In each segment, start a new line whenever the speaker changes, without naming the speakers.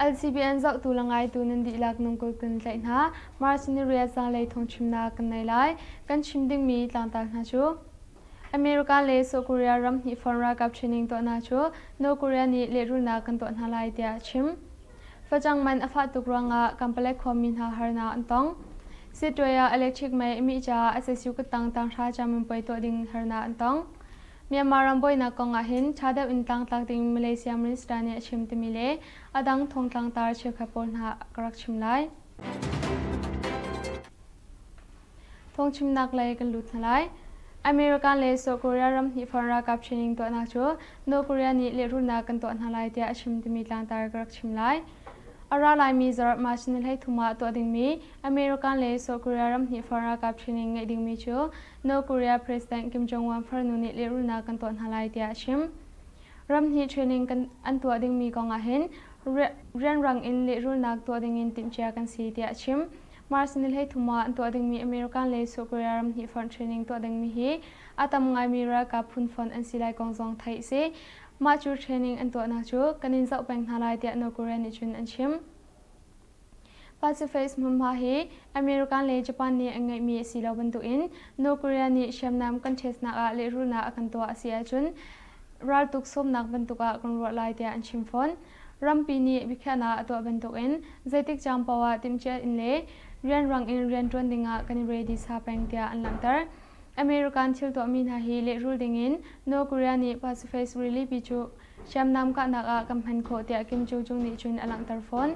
LCBN zohtu le ngaitu nan dihlak nung kul kun tlaih hna. Mars Niriya zanlei thawngchimnak kan nei lai. Kan chim dingmi tlangtar hna cu. America le South Korea ram hnih fawr ralkap training tuahnak cu North Korea nih lehrulnak kan tuah hna lai tiah a chim. Facang man a fah tuk ruangah Kampala khuami hna harnak an tong. Sitwe ah electric mei a mih caah asasiu kuttang tanghra cam in puai tuah ding harnak an tong. Myanmar ram buainak kong ahhin ṭha deuh in tlangtlak ding Malaysia Minister nih a chim timi le a dang thongtlangtar cheukhat pawl hna a ka rak chim lai. Phungchimnak lei kan lut hna lai. America le South Korea ram hnihfar ralkap training tuahnak cu North Korea nih lehrulnak kan tuah hna lai tiah a chim timi tlangtar ka rak chim lai. A ra laimi zarh March ni hleithum ah tuah dingmi America le South Korea ram hnihfar ralkap training ngeih dingmi cu North Korea President Kim Jong-un farnu nih lehrulnak kan tuah hna lai tiah a chim. Ram hnih training kan an tuah dingmi kong ahhin rianrang in lehrulnak tuah dingin timhcia kan si tiah a chim. Mars ni hleithum ah an tuah dingmi American le South Korea ram hnih fonh training tuah dingmi hi a tam ngaimi ralkap phun fonh an si lai kong zong theih a si. Mah cu training an tuahnak cu kan in zoh peng hna lai tiah North Korea nih cun an chim. Pacific hmunhma hi American le Japan nih an ngeihmi a si lo bantukin North Korea nih hriamnam kan ṭhesnak ah lehrulnak a kan tuah a si ahcun raltuk sawmnak bantuk ah kan ruah lai tiah an chim fawn. Rampi nih biakhiahnak a tuah bantukin zeitik caan paoh ah timhciah in le rianrang in rian ṭuan dingah kan i readisa peng tiah an langhter. American thil tuahmi hna hi lehrul dingin North Korea nih Pacific rilipi cu hriamnam kahnak ah kan hman khawh tiah Kim Joo-chung nih cun a langhter fawn.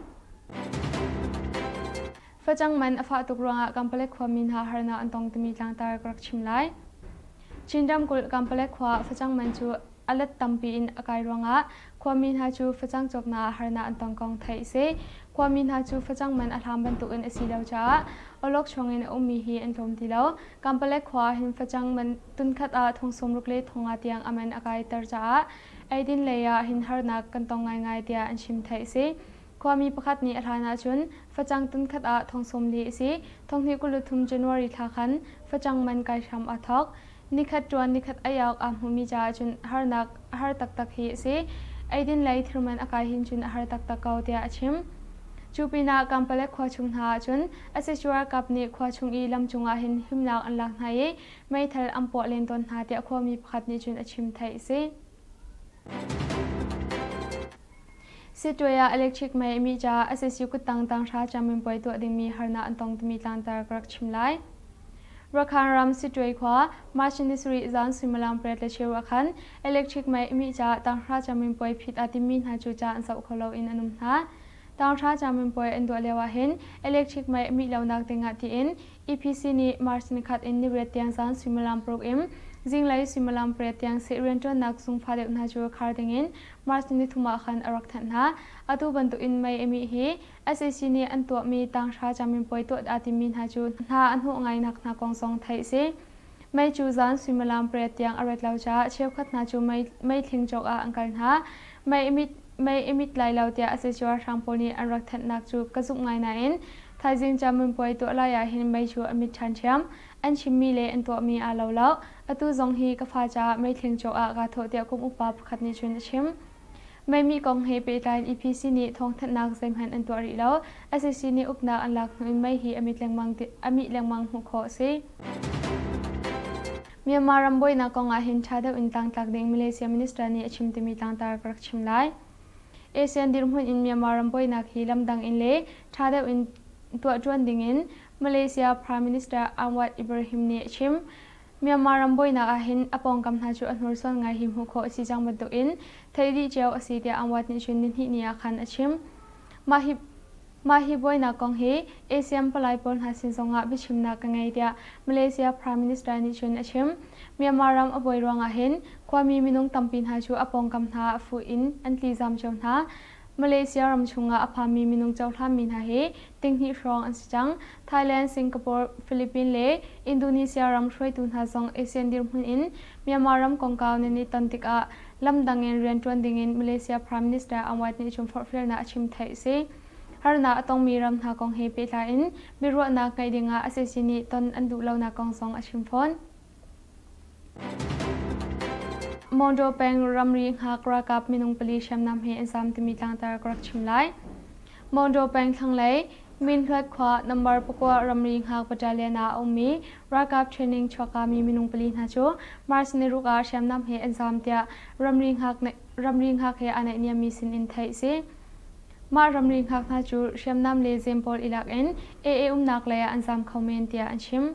Facang man a fah tuk ruangah Kampalek khuami hna harnak an tong timi tlangtar ka rak chim lai. Chin ramkulh Kampalek khua facang man cu A let tampi in a kai ruangah khuami hna cu facang cawknak harnak an tong kong theih a si. Khuami hna cu facang man a hlam bantukin a si lo caah awlok chuangin a ummi hi an tlawm ti lo. Kampalek khua ahhin facang man tunkhat ah thong sawmruk le thong nga tiang a man a kaiter caah eidin lei ahhin harnak kan tong ngaingai tiah an chim theih a si. Khuami pakhat nih a hlan ahcun facang tunkhat ah thong sawm li a si. Thonghnih kul le thum January thla khan facang man kai hram aa thawk. Nikhat ṭuan nikhat ei awk aa hmuhmi caah cun harnak a har taktak hi a si. Eidin lei thir man a kai hin cun a har taktak ko tiah a chim. Cu pinah Kampalek khua chung hna ahcun Asesura kap nih khua chung i lam cungah hin himnak an lak hna i meithal an puah len tawn hna tiah khuami pakhat nih cun a chim theih a si. Sitwe ah electric mei a mih caah ICC kuttang tanghra caminpuai tuah dingmi harnak an tong timi tlangtar ka rak chim lai. Rakhine ram Sitwe khua March ni sarih zan suimilam pariat le cheu ah khan electric mei a mih caah tanghra caminpuai phit aa timmi hna cu ca an zoh kho lo in an um hna. Tanghra caminpuai an duah lio ahhin electric mei a mih lonak ding ah tiin EPC nih March ni khat in niriat tiang zan suimilam paruk in zinglei suimilam pariat tiang seh rianṭuannak zungfa deuh hna cu khar dingin March ni nithum ah khan a rak thanh hna. Atu bantukin Miami hi sac nih an tuahmi tanghra caminpuai tuah aa timmi hna cu hna a hnawh ngainak hna kong zong theih a si. Mei cu zan suimilam pariat tiang a rat lo caah cheukhat hna cu meithling cawk ah an kal hna. Mei i mit lai lo tiah a casual hrang pawl nih an rak thanhnak cu ka zumh ngai nain thaizing camun puai tuah lai ah hin mei cu a mit ṭhanṭhiam. An chimmi le an tuahmi aa lo lo. Atu zong hi ka fa caah meithling cawk ah kaa thawh tiah kum upa pakhat nih cun a chim. Meimi kong he pehtlai in EPC nih thawngthanhnak zeihmanh an tuah rih lo. SEC nih uknak an lak hnu in mei hi a mit lengmang a mih lengmang hmuh khawh a si. Myanmar ram buainak kong ah hin ṭha deuh in tlangtlak ding Malaysia Minister nih a chim timi tlangtar ka rak chim lai. ASEAN dirhmun in Myanmar ram buainak hi lamdang in le ṭha deuh in tuah ṭuan ding in Malaysia Prime Minister Anwar Ibrahim nih a chim. Myanmar ram buainak ahhin a pawngkam hna cu a hnursuan ngai hi hmuh khawh a si cang bantukin theih dih cio a si tiah Anwar nih cun nihnih ni ah khan a chim. Mah hi Mah hi buainak kong hi ASEAN palai pawl hna sin zongah biachimnak ka ngei tiah Malaysia Prime Minister nih cun a chim. Myanmar ram a buai ruangah hin khuami minung tampi hna cu a pawngkam hna ah fuh in an tlizam cio hna. Malaysia ram chungah a phanmi minung cohlanmi hna hi tinghnih hrawng an si cang. Thailand, Singapore, Philippines le Indonesia ram hruaitu hna zong Asian dirhmun in Myanmar ram kongkau nan i ton tikah lamdang in rianṭuan dingin Malaysia Prime Minister Aung Aid nih cun forhfialnak a chim theih a si. Harnak a tongmi ram hna kong he pehtlai in biaruahnak ngeih dingah a cacin nih ton an duh lonak kong zong a chim fawn. Monraw peng ramri Nghak ralkap minung pali hriamnam he an zam timi tlangtar ka rak chim lai. Monraw peng thlanglei Minhluat khua nambar pakua ramri Nghak battalion ah a ummi ralkap training chuakami minung pali hna cu March niruk ah hriamnam he an zam tiah ramri Nghak ramri Nghak he aa naihniammi sin in theih a si. Mah ramri Nghak hna cu hriamnam le zempawl ilak in AA umnak lei ah an zam kho men tiah an chim.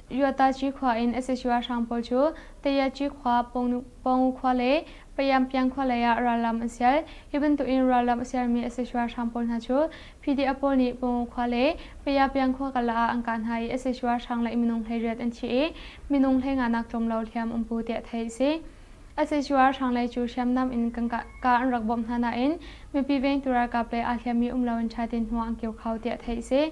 Ryataci khua in Sesua hrang pawl cu Tayaci khua, Pawng khua le Payampiang khua lei ah rallam an sial. Hi bantukin rallam a sialmi Sesua hrang pawl hna cu PDF pawl nih Pawng khua le Payapiang khua kal ah an kah hna i Sesua hrang le minung hleiriat an thi i minung hleinganak tlawmlo hliam um pu tiah theih a si. Sesua hrang lei cu hriamnam in ka an rak bawmh hna nain mipi vengtu ralkap le aa hliammi um lo in ṭha tein hmuh an kio kho tiah theih a si.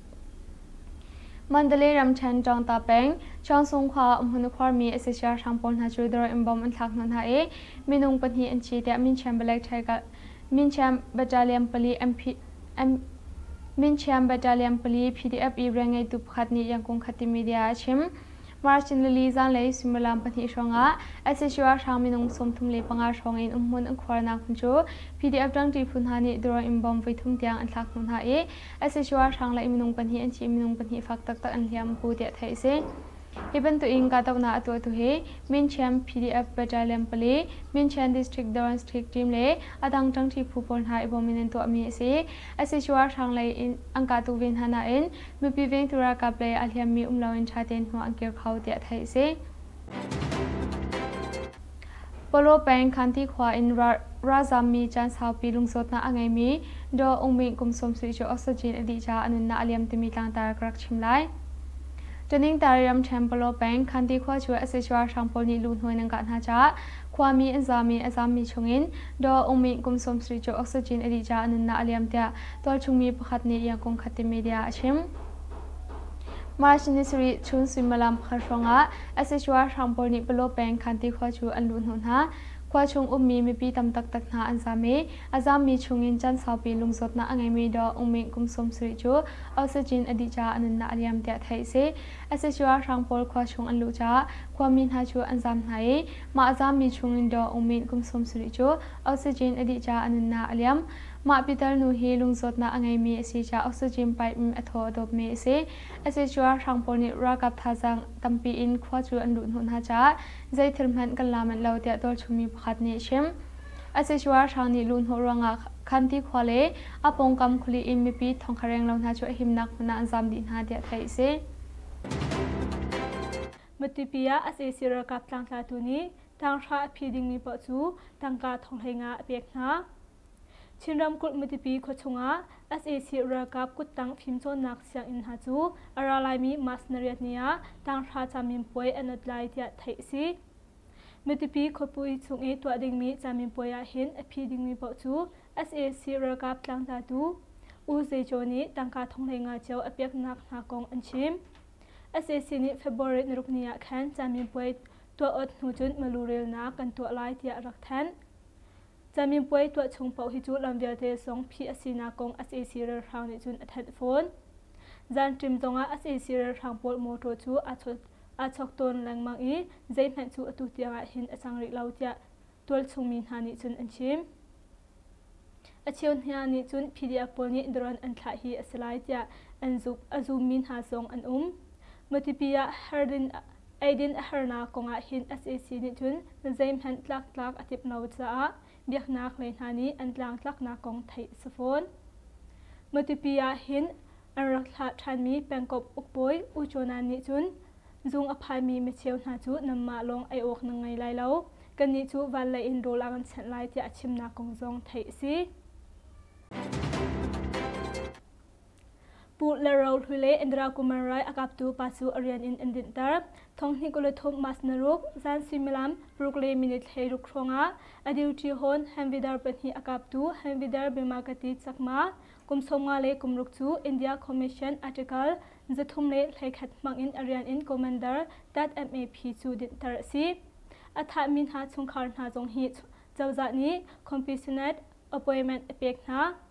mandalay ramṭhen ṭawngta peng cheongsung khua ah um hun a khuarmi a si siarhrang pawl hna cu dawr in bom an thlak hna hna i minung pahnih an thi tiah minchiam battalion pali pdf ireng ngeitu pakhat nih yangkung khati media a chim march in lili zanlei suimilam pahnih hrawngah sac ralhrang minung sawmthum le panga hrawng in umhmun an khuarnak hmun cu pdf ṭangṭi phu hna nih dawr in bom voithum tiang an thlak hna hna i asicuah hrang le minung pahnih an thi minung pahnih fak taktak an hliam bu tiah theih a si. Hi bantukin kahdohnak a tuahtu hi Minchiam PDF Battalion pali, Minchian District Doron Street team le a dang ṭangṭi phu pawl hna i bawm in an tuahmi a si. Asicuah hrang lei in an kahtu ve hna nain mipi vengtu ralkap lei a hliammi um loin ṭha tein hnawh an kir kho tiah theih a si. palaw peng khanti khua in ralzaam mi caan saupi lungsawtnak a ngeimi daw ung min kum sawm suih cu oxygen a dih caah a nunnak a liam timi tlangtar ka rak chim lai ṭaningtari ramṭhen palaw peng khanti khua cu sac ralhrang pawl nih luhnuai nan kah hna caah khuami an zaam i a zaammi chungin daw ung min kum sawm suih cu oxygen a dih caah a nunnak a liam tiah tualchung mi pakhat nih yakung khat ti media a chim March ni sarih chun suimilam pakhat hrawngah sac ralhrang pawl nih Palaw peng Khanti khua cu an luh hnawh hna. Khua chung ummi mipi tam taktak hna an zam i a zammi chungin can saupi lungzawtnak a ngeimi Daw Aung Minh kum sawm sarih cu oxygen a dih caah a nunnak a liam tiah theih a si. sac ralhrang pawl khua chung an luh caah khuami hna cu an zam hna i mah a zammi chungin Daw Aung Minh kum sawm sarih cu oxygen a dih caah a nunnak a liam. Mah pitar nu hi lungsawtnak a ngeimi a si caah oxygen pipe in a thaw a dawpmi a si. Asicuah hrang pawl nih ralkap thazaang tampi in khua cu an luh hnawh hna caah zeithil hmanh kan la manh lo tiah tualchungmi pakhat nih a chim. Asicuah hrang nih luh hnawh ruangah Khanti khua le a pawngkam kuli in mipi thongkhareng lo hna cu a himnak hmun ah an zam dih hna tiah theih a si. Matupi ah sac ralkap tlangtlatu nih tanghrah a phi dingmi paoh cu tangka thonghlei nga a pek hna. Chin ramkulh Matipi khuachung ah sac ralkap kuttang fimcawnnak sianginn hna cu a ra laimi March nariatni ah tanghra camin puai an ot lai tiah theih a si. Matipi khuapui chung i tuah dingmi camin puai ah hin a phi dingmi paoh cu sac ralkap tlangtlatu U Zei Caw nih tangka thonglei nga cio a peknak hna kong an chim. sac nih February narukni ah khan camin puai tuah ot hnu cun malurelnak kan tuah lai tiah rak thanh.
Caminpuai tuah chung paoh hi cu lam vialte song phih a sinak kong sac ralhrang nih cun a thanh fawn. Zantrim zongah sac ralhrang pawl motor cu aa chawk tawn lengmang i zeihmanh cu atu tiangah hin a cang rih lo tiah tualchungmi hna nih cun an chim. A cheu hna nih cun PDF pawl nih drone an thlah hi a si lai tiah an zummi hna zong an um. Matupi ah Hardin Eidin a harnak kong ah hin sac nih cun zeihmanh tlaktlak a timh lo caah biaknak lei hna nih an tlangtlaknak kong theih a si fawn. Matupi ah hin an rak thlah ṭhanmi pengkomh ukbawi U Cawnan nih cun zung a phaimi micheu hna cu nanmah lawng ei awk nan ngei lai lo, kannih cu van lei in rawl a kan chenh lai tiah a chimnak kong zong theih a si. Puh le ro hlui le Indira Kumar rai a kaptu pa cu a rian in an rinhter. Thong hnih kul le thum mas naruk, zan suimilam paruk le minit hlei ruk hrawngah a duty hon Hamvidar pahnih a kaptu Hamvidar Bimagatid Chakma, kum sawmnga le kum ruk cu India Commission Article zathum le hleikhat hmangin a rian in Commander Tat MAP cu dinhter a si. A thahmi hna chungkhar hna zong hi cozah nih Commissionate appointment a pek hna.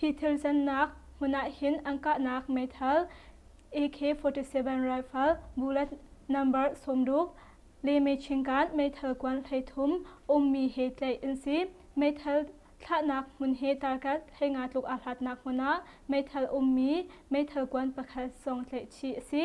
hi thil zennak hmun ahhin an kahnak meithal ak-47 rifle bullet number sawmruk le mechingan meithal kuan hleithum ummi he tlaih an si meithal thlahnak hmun he tarkat heinga tluk aa hlatnak hmun ah meithal ummi meithal kuan pakhat zong tlaih chih a si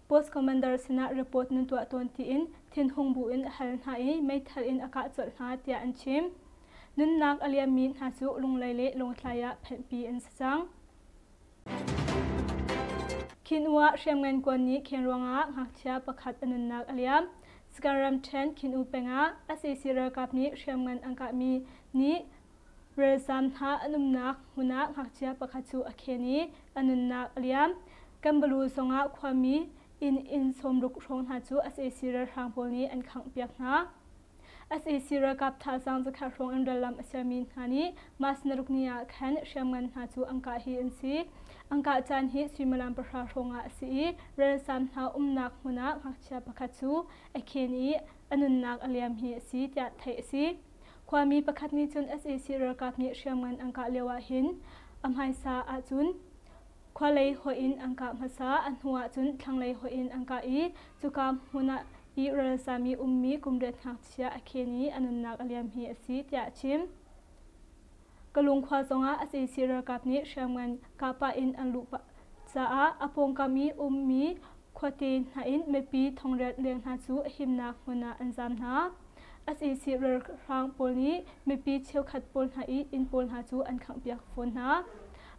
Post Commander sinah report nan tuah tawn tiin thinhung bu in a hal hna i meithal in a kah colh hna tiah an chim. Nunnak a liammi hna cu Lunglei le Lawngtlai ah phenhpi an si cang. Khinua Hriamngan kuan nih khen ruangah ngakchia pakhat a nunnak a liam. Sakaram ṭhen Khinuu pengah SAC ralkap nih hriamngan an kahmi nih Ralzaam hna an umnak hmun ah ngakchia pakhat cu a khen i a nunnak a liam. Kambalu zongah khuami inn inn sawmruk hrawng hna cu sac ralhrang pawl nih an khanghpiak hna. sac ralkap thazaang zakhat hrawng in rallam a sermi hna nih mas narukni ah khan hriamngan hna cu an kah hi an si. An kah caan hi suimilam pahra hrawng ah a si i ralzaam hna umnak hmun ah ngakchia pakhat cu a khen i a nunnak a liam hi a si tiah theih a si. Khuami pakhat nih cun sac ralkap nih hriamngan an kah lio ah hin a hmaisa ahcun khualei hoih in an kah hmasa, a hnu ahcun thlanglei hoih in an kah i cuka hmun ah i ralzami ummi kum riat ngakchia a khen i a nunnak a liam hi a si tiah a chim. Kalung khua zongah a seisei ralkap nih hriamngan kaa pah in an luh pah caah a pawngkam i ummi khuate hna in mipi thongriat leng hna cu himnak hmun ah an zaam hna. A seisei ralhrang pawl nih mipi cheukhat pawl hna i inn pawl hna cu an khanghpiak fawn hna.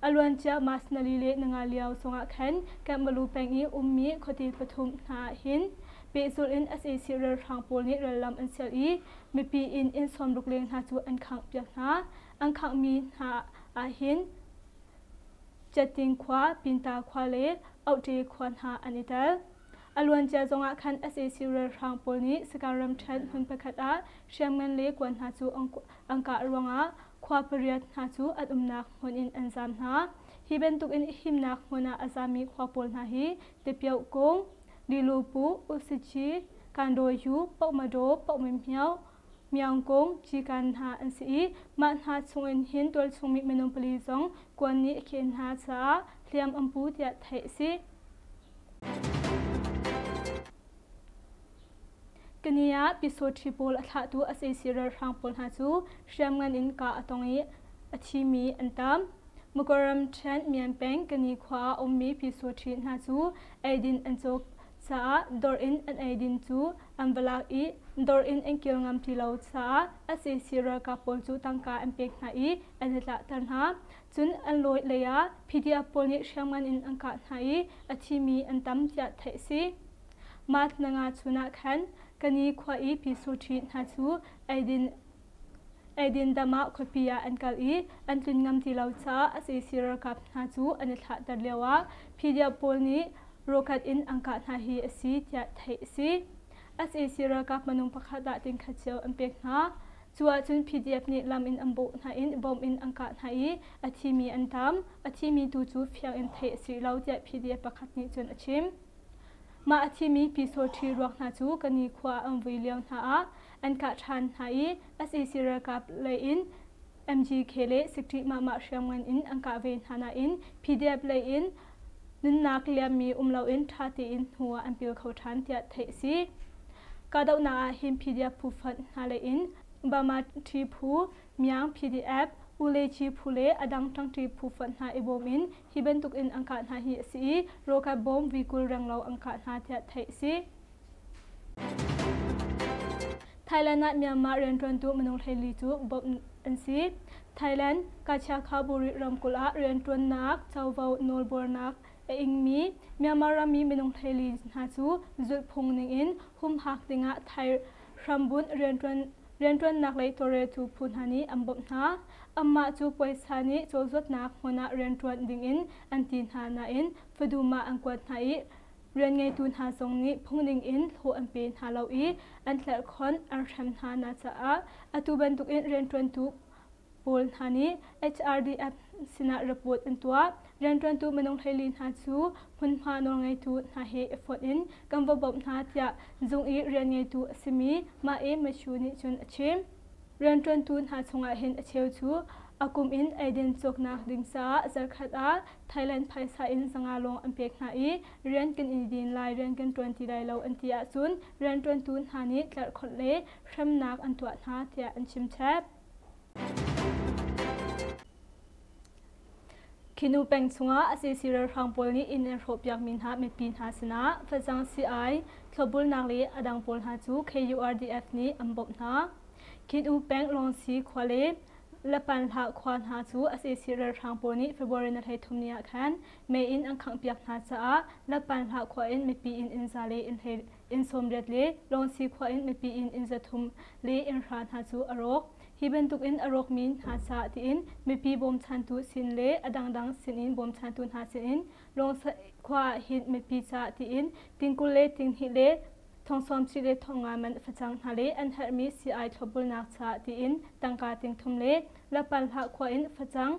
A luan cia Mas nali le nanga lio sungah khan Kambalu peng i ummi khuate pathum hna ah hin pehzulh in sac ralhrang pawl nih rallam an sial i mipi in inn sawmruk leng hna cu an khanghpiak hna. An khanghmi hna ah hin Cetting khua, Pinta khua le Ohte khua hna an i tel. A luancia zongah khan sac ralhrang pawl nih sakah ramṭhen hmun pakhat ah hriamngan le kuan hna cu angka ruangah khua pariat hna cu an umnak hmun in an zaam hna. Hi bantukin himnak hmun ah a zaammi khua pawl hna hi Tipioh-kung, Lilupu, Usici, Kandaw-yu, Pohmadaw, Pohmymhyo, Hmiangkung, Cikan hna an si i mah hna chungin hin tualchungmi minung pali zong kuan nih a khen hna caah hliam an pu tiah theih a si. Kani ah Pisotri pawl a thlahtu a seisi ralhrang pawl hna cu hriamngan in kah a tong i a thimi an tam. Mukoram Ṭhen Myan peng Kani khua ah a ummi Pisotri hna cu eidin an cawk Caah dawr in an eidin cu an va lak i dawr in an kir ngam ti lo caah sac ralkap pawl cu tangka an pek hna i an i tlahter hna. Cun an lawi lei ah PDF pawl nih hriamngan in an kah hna i a thimi an tam tiah theih a si. March nanga chun ah khan Kani khua i Pi Su Ṭhi hna cu eidin Eidin dam ah khuapi ah an kal i an tlun ngam ti lo caah a seisei ralkap hna cu an i thlahter lioah Phidia pawl nih rokhat in an kah hna hi a si tiah theih a si. A seisei ralkap minung pakhat ah tingkha cio an pek hna. Cu ahcun PDF nih lam in an bawh hna i bom in an kah hna i a thimi an tam. A thimi tu cu fiang in theih a si lo tiah PDF pakhat nih cun a chim. Mah a thimi Pysaw ṭhi ruak hna cu ka nikhua ah an vui lio hna ah an kah ṭhan hna i sac ralkap lei in MGK le Sikṭih Mahmah hriamngan in an kah ve hna nain PDF lei in nunnak liammi um loin ṭha tein hnu ah an pil kho ṭhan tiah theih a si. Kahdohnak ah hin PDF phu fanh hna lei in Bamaṭhi phu, Myang PDF, Ulechi phu le a dang ṭangṭi phu fanh hna i bawm in Hi bantuk in an kah hna hi a si i Roka bomb vikul renglo an kah hna tiah theih a si. Thailand ah Myanmar rianṭuantu minung hleili cu bawmh an si. Thailand Kachia Khawburi ramkulh ah rianṭuannak covo nawlbuarnak a ingmi Myanmar rami minung hleili hna cu zulhphung ningin humhak dingah Thai hrambunh rianṭuan Rianṭuannak lei tawlreltu phu hna nih an bawmh hna. Anmah cu puaisa nih cawlzuatnak hmun ah rianṭuan dingin an ti hna nain fadum ah an kuat hna i rianngeitu hna zong nih phungning in hlawh an pe hna lo i an tlerhkhonh an hrem hna hna caah atu bantukin rianṭuantu Paul hna nih HRDF sinah report an tuah. Rianṭuantu minung hleili hna cu hmunhma nawlngeitu hna he i fawt in kan va bawmh hna tiah zung i rian ngeitu a simi Mae Machu nih cun a chim. Rianṭuantu hna chungah hin a cheu cu a kum in eiden cawknak ding caah zarkhat ah Thailand phaisa in zanga lawng an pek hna i rian kan i din lai, rian kan ṭuan ti lai lo an ti ahcun rianṭuantu hna nih tlarhkhawnh le hremnak an tuah hna tiah an chim chap. Khinu peng chungah asi si ralhrang pawl nih inn an hrawh piakmi hna mipi hna sinah facang si-ai, thlawbulnak le a dang pawl hna cu KURDF nih an bawmh hna. Khinu peng Lawngsi khua le Lapanhlah khua hna cu asi si ralhrang pawl nih February ni hleithum ni ah khan mei in an khangh piak hna caah Lapanhlah khua in mipi inn in za le inn hlei inn sawmriat le Lawngsi khua in mipi in inn zathum le innhra hna cu a rawk. Hi bantuk in a rawkmi hna ca tiin mipi bawmchantu sin le a dangdang sin in bawmchantu hna sin in Lawngsa khua ah hin mipi ca tiin tingkul le tinghnih le thongsawmci le thongnga man facang hna le an herhmi si-ai thlawpbulnak ca tiin tangka tingthum le Lapalhla khua in facang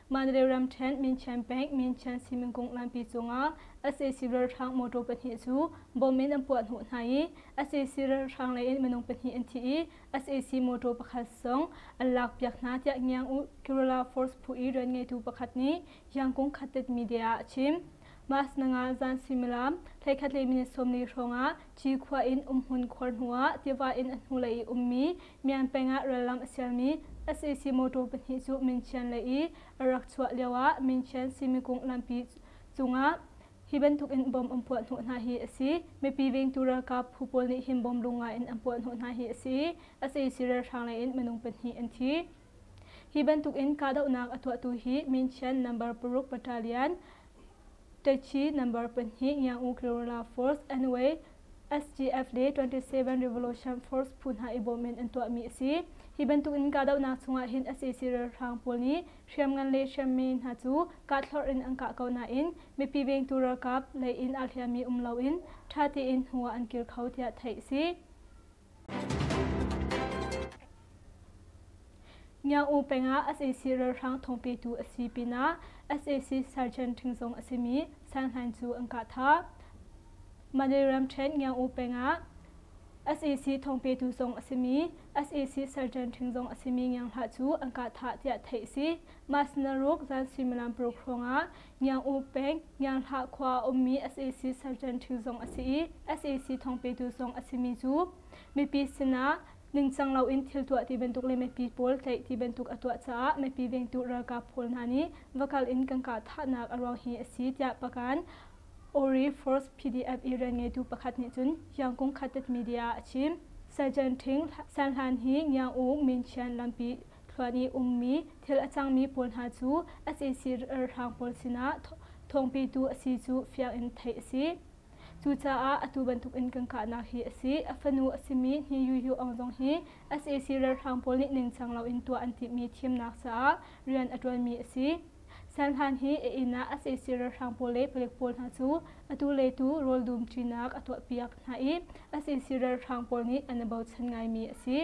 Manreu ramṭhen Minqian Bank Minqian Simingkung nganpi cungah sac ralhrang motor pahnih cu bomb in an puah hnawh hna i sac ralhrang lei in minung pahnih an thi i sac motor pakhat zong an lakpiak hna tiah Ngiang Kerala Force phu i rian ngeitu pakhat nih Yangkung Khatet media ah a chim. Mas nanga zan suimilam thleikhat le minute sawmli hrawngah Ci khua in umhmun khuar hnuah tiva in a hnulei i ummi Myan peng ah rallam a sialmi sac motor pahnih cu Minchian lei i a rak chuah lioah Minchian Simikung lampi cungah hi bantukin bomb an puah hnawh hna hi a si. Mipi vengtu ralkap phu pawl nih hin bomb lung ngaiin an puah hnawh hna hi a si i, sac ralhrang leiin minung pahnih an thi. Hi bantukin kahdohnak a tuahtu hi Minchian number paruk battalion, Taichi number pahnih Yangon Guerrilla Force NY SGF le 27 Revolution Force phu hna i bawm in an tuahmi a si. Hi bantukin kahdohnak chungah hin sac ralhrang pawl nih hriamngan le hriammi hna cu kahthlorh in an kah ko nain mipi vengtu ralkap lei in aa hliammi um loin ṭha tein hnu ah an kir kho tiah theih a si. Ngiang-u peng ah sac ralhrang thawngpetu a si pinah sac sergeant ṭhing zong a simi sanhlan cu an kah tha. Mandalay ramṭhen Ngiang-u peng ah sac thawngpetu zong a simi sac sergeant ṭhing zong a simi ngianghlah cu an kah tha tiah theih a si. Mas naruk zan suimilam paruk hrawng ah Ngiang-u peng, Ngianghlah khua ummi sac sergeant ṭhu zong a si i sac thawngpetu zong a simi cu mipi sinah ningcang loin thil tuah ti bantuk le mipi pawl tlaih ti bantuk a tuah caah mipi vengtu ralkap pawl hna nih va kal in kan kah thahnak a ruang hi a si tiah Pakan Ori Force PDF Iran ngeitu pakhat nih cun Yangkung Khatet media a chim. Sergeant Ṭhing San Hlan hi Ngiang-u Min Chian lampi thluan i ummi thil a cangmi pawl hna cu sac ralhrang pawl sinah thawngpetu a si cu fiang in theih a si. Cucaah atu bantuk in kan kahnak hi a si. A fanu a simi Hni Yu Yu Aung zong hi sac ralhrang pawl nih ningcang loin tuah an timhmi thimnak caah rian a ṭuanmi a si. Serhlan hi a inn ah a seisir ralhrang pawl le palek pawl hna cu atu le tu rawl dum ṭinak a tuahpiak hna i a seisir ralhrang pawl nih an i bochan ngaimi a si.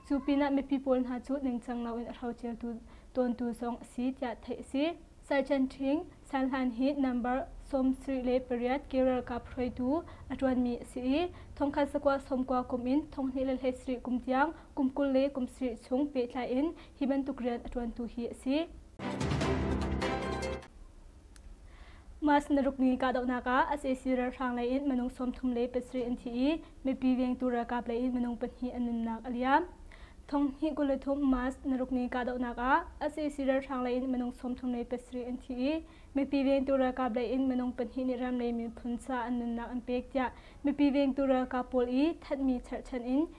Cu pinah mipi pawl hna cu ningcang loin a hroceltu tawntu zong a si tiah theih a si. Saichanh Ṭhing, Serhlan hi number sawmsarih le pariat ke ralkap hruaitu a ṭuanmi a si i thongkhat sakua sawmkua kum in thonghnih le hleisarih kum tiang kum kul le kum sarih chung pehtlai in hi bantuk rian a ṭuantu hi a si. Mas na rukni kahdohnak ah SAC ralhrang lei in minung sawmthum le pasarih an thi i mipi vengtu ralkap lei in minung pahnih an nunnak a liam. Thong hnih kul le thum Mas na rukni kahdohnak ah SAC ralhrang lei in minung sawmthum le pasarih an thi i mipi vengtu ralkap lei in minung pahnih nih ram lei miphun ca an nunnak an pek tiah mipi vengtu ralkap pawl i thanhmi cherhchan in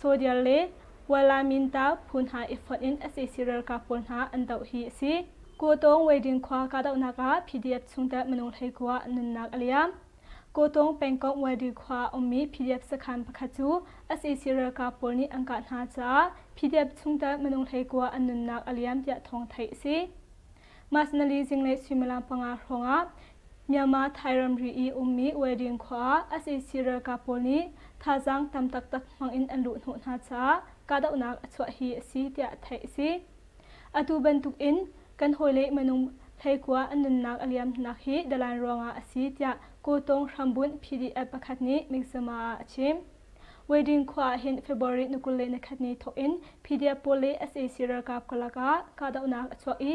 Sodial le Walaminta phu hna i fonh in sac ralkap pawl hna an doh hi a si. Kawtawng Weiding khua kahdohnak ah PDF chungtel minung hleikua nunnak a liam. Kawtawng pengkomh Weiding khua a ummi PDF sakhan pakhat cu sac ralkap pawl nih an kah hna caah PDF chungtel minung hleikua an nunnak a liam tiah thawng theih a si. Mas nali zinglei suimilam panga hrawngah Myanmar Thai ramri i ummi Wedding khua ah SAC ralkap pawl nih thazaang tam taktak hmangin an luh hnawh hna caah kahdohnak a chuah hi a si tiah theih a si. Atu bantukin kan hawile minung hleikua an nunnak a liamnak hi Dalain ruangah a si tiah Kawtawng hrambunh PDF pakhat nih Mizzima ah a chim. Wedding khua ah hin February ni kul le ni khat ni thawkin PDF pawl le SAC ralkap karlak ah kahdohnak a chuak i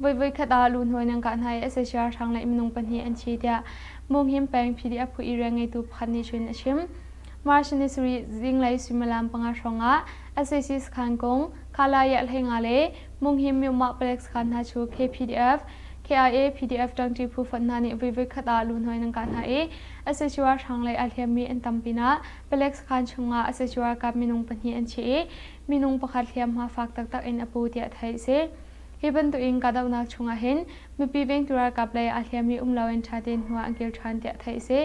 Voivoi ah luhnawi nan kah hna i sac ralhrang le minung pahnih an thi tiah Monghim peng PDF phu area ngeitu pakhat nih cun a chim. March ni sarih zinglei suimilam panga hrawng ah SAC sakhan kung, Kalaya Hlenga le Monghim Myomah Palek sakhan hna cu KPDF, KIA, PDF ṭangṭi phu fund hna nih voivoi khat ah luhnawi nan kah hna i sac ralhrang le aa hliammi an tam pinah Palek sakhan chungah sac ralkap minung pahnih an thi i minung pakhat hliamhma fak taktak in a pu tiah theih a si. Hi bantukin kahdohnak chungah hin mipi vengtu ralkap lei aa hliammi um loin ṭha tein hnu ah an kir ṭhan tiah theih a si.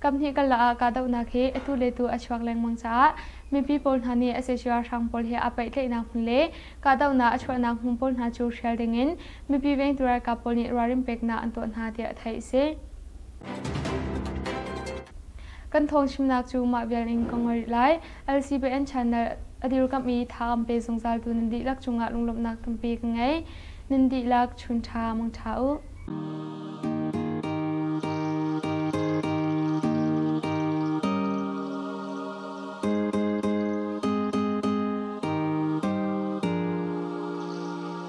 Kaphnih karlak ah kahdohnak hi atu le tu a chuak lengmang caah mipi pawl hna nih sac ralhrang pawl he aa pehtlaihnak hmun le kahdohnak a chuahnak hmun pawl hna cu hrial dingin mipi vengtu ralkap pawl nih ralrin peknak an tuah hna tiah theih a si. Kan thawng chimnak cu mah vial in ka ngol rih lai. LCBN channel a dirkamh i tha an pe zungzal tu nan dihlak cungah lunglawmhnak tampi ka ngei. Nan dihlak chun tha mangtha uh.